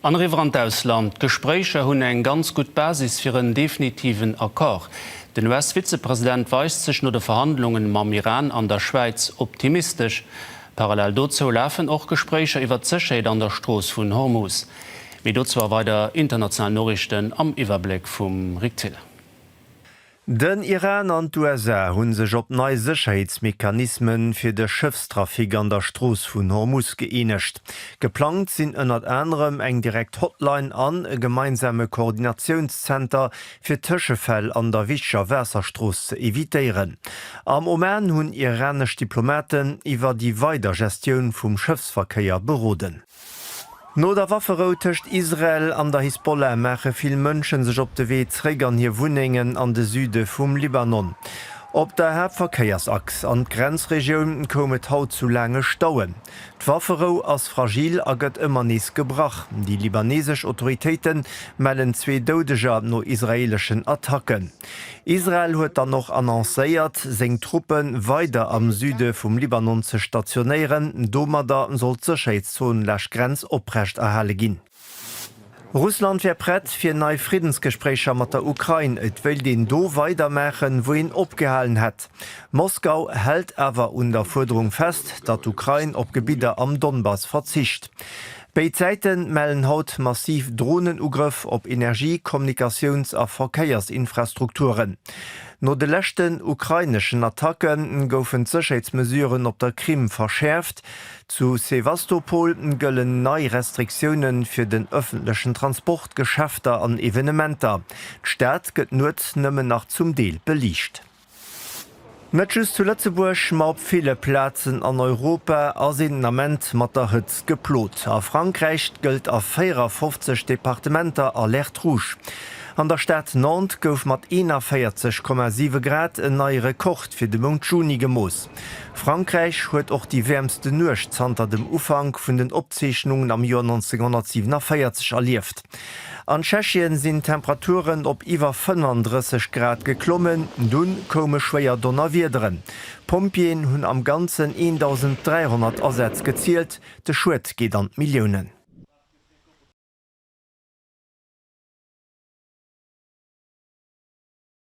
An eriwwer an d'Ausland. D'Gespréicher hunn eng ganz gutt Basis fir en definitiven Accord. Den US-Vizepresident weist sech no de Verhandlunge mam Iran an der Schwäiz optimistesch. Parallel dozou lafen och Gespréicher iwwert d'Sécherheet an der Strooss vun Hormuz. Méi dozou a weider internationalen Noriichten am Iwwerbléck vum Rick Thill. Den Iran an d'USA hu sech op nei Sécherheetsmechanisme fir de Schëffstrafic an der Strooss vun Hormus gëeenegt. Geplangt sinn ënnert anerem eng direkt Hotline an e gemeinsame Koordinatiounszenter, fir Tëschefäll an der wichteger Waasserstrooss ze evitéieren. Am Oman hunn iranesch Diplomaten iwwer déi weider Gestioun vum Schëffsverkéier beroden. No der Wafferou tëscht Israel an der Hisbollah maache vill Mënsche sech op de Wee zréck an hir Wunnengen an de Süde vum Libanon. Op der Haaptverkéiersachs an d'Grenzregioun koum et haut zu laange Stauen. D'Wafferou ass fragil a gëtt ëmmer nees gebrach. Déi libaneesesch Autoritéite mellen zwee Doudeger no israeeleschen Attacken. Israel huet dann och annoncéiert, seng Truppe weider am Süde vum Libanon ze stationéieren. Domadder soll d'Sécherheetszon laasch Grenz oprecht erhale ginn. Russland wär prett fir nei Friddensgespréicher mat der Ukrain. Et wéilt een do weider maachen, wou een opgehalen hätt. Moskau hält awer un der Fuerderung fest, datt d'Ukrain op Gebidder am Donbass verzicht. Béid Säite mellen haut massiv Dronenugrëff op Energie-, Kommunikatiouns a Verkéiersinfrastrukturen. No de leschten ukraineschen Attacke goufen d'Sécherheetsmesuren op der Krim verschäerft. Zu Sewastopol gëllen nei Restriktioune fir den ëffentlechen Transport, Geschäfter an Evenementer. D'Stad gëtt nuets nëmmen nach zum Deel beliicht. Net just zu Lëtzebuerg, ma op ville Plazen an Europa ass een den Ament mat der Hëtzt geplot. A Frankräich gëllt a 54 Departementer Alerte Rouge. An der Stad Nantes gouf mat 41,7 Grad en neie Rekord fir de Mount Juni gemooss. Frankräich huet och déi wäermsten Nuecht zanter dem Ufank vun den Opzeechnungen am Joer 1947 erlieft. An Tschechien sinn d'Temperaturen op iwwer 35 Grad geklommen, dunn koume schwéier Donnerwiederen. D'Pompjeeën hunn am Ganzen 1.300 Asätz gezielt, de Schued geet an d'Milliounen.